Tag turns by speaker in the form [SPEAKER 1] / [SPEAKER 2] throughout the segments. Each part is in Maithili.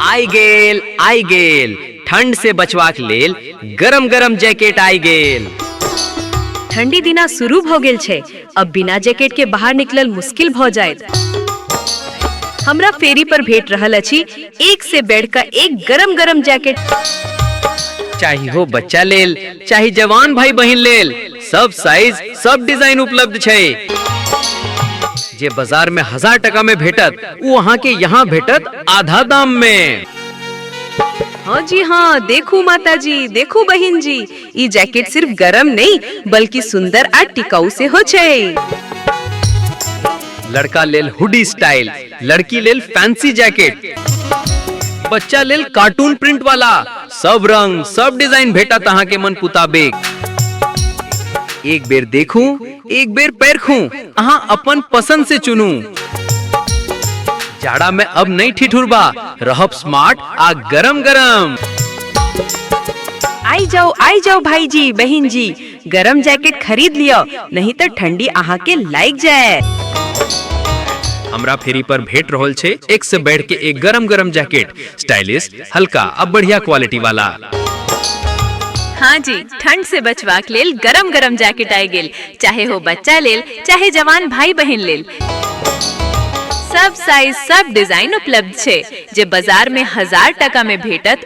[SPEAKER 1] आइ गेल आइ गेल ठंड से बचवाक लेल गरम गरम जैकेट आइ गेल
[SPEAKER 2] ठंडी दिना शुरू भ गेल छै अब बिना जैकेट के बाहर निकलल मुश्किल भ जायत हमरा फेरी पर भेट रहल अछि एक से बेड का एक गरम गरम जैकेट
[SPEAKER 1] चाहे हो बच्चा लेल चाहे जवान भाई बहन लेल सब साइज सब डिजाइन उपलब्ध छै जे बाजार में हजार टका में भेटत वो अहाँ के यहाँ भेटत आधा दाम में
[SPEAKER 2] हाँ जी हाँ देखू माता जी देखू बहन जी ई जैकेट सिर्फ गरम नहीं बल्कि सुंदर आ टिकाऊ से हो छै
[SPEAKER 1] लड़का लेल हुडी स्टाइल लड़की लेल फैंसी जैकेट बच्चा लेल कार्टून प्रिंट वाला सब रंग सब डिजाइन भेटत अहाँ के मन पुताबेक एक बेर देखू एक बेर परखू अहाँ अपन पसंद से चुनू जाड़ा में अब नहीं ठिठुरबा रहब स्मार्ट आ गरम गरम
[SPEAKER 2] आई जाओ आई जाओ भाई जी बहन जी गरम जैकेट खरीद लियो नहीं तो ठंडी अहाँ के लाग जाए
[SPEAKER 1] हमरा फेरी पर भेट रहल छे एक से बैठ के एक गरम गरम जैकेट स्टाइलिश हल्का अब बढ़िया क्वालिटी वाला
[SPEAKER 2] हाँ जी ठंड से बचवाक लेल गरम गरम जैकेट आए गेल चाहे हो बच्चा लेल चाहे जवान भाई बहन लेल सब साइज सब डिजाइन उपलब्ध छे जे बाजार में हजार टका में भेटत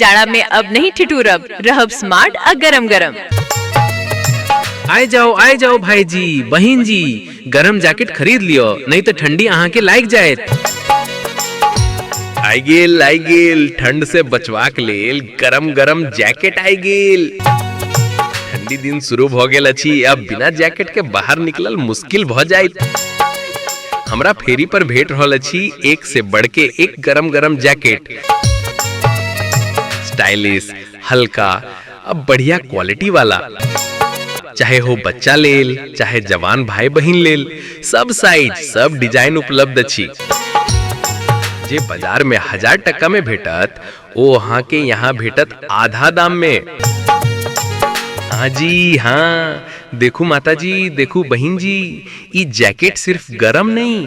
[SPEAKER 2] जाड़ा में अब नहीं ठिठुरब रहब स्मार्ट आ गरम गरम
[SPEAKER 1] आए जाओ आए जाओ भाई जी बहन जी गरम जैकेट खरीद लियो नहीं तो ठंडी अहाँ के लाग जाए आई गेल आई गेल ठंड से बचवा के लेल गरम गरम जैकेट आई गेल ठंडी दिन शुरू भ गेल अछि अब बिना जैकेट के बाहर निकलल मुश्किल भ जाइत हमरा फेरी पर भेट रहल अछि एक से बढ़ के एक गरम गरम जैकेट स्टाइलिश हल्का अब बढ़िया क्वालिटी वाला चाहे हो बच्चा लेल चाहे जवान भाई बहिन लेल सब साइज सब डिजाइन उपलब्ध अछि जे बाजार में हजार टका में भेटत ओ अहाँ के यहाँ भेटत आधा दाम में हाँ जी हाँ देखू माता जी देखू बहन जी ई जैकेट सिर्फ गरम नहीं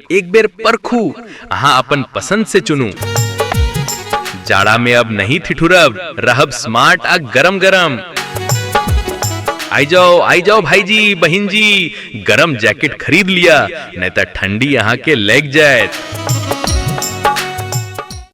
[SPEAKER 1] एक बेर परखू अहाँ अपन पसंद से चुनू जाड़ा में अब नहीं ठिठुरब रहब स्मार्ट आ गरम गरम आई जाओ आई जाओ भाई जी बहन जी गरम जैकेट खरीद लिया नहीं तो ठंडी यहाँ के लग जाए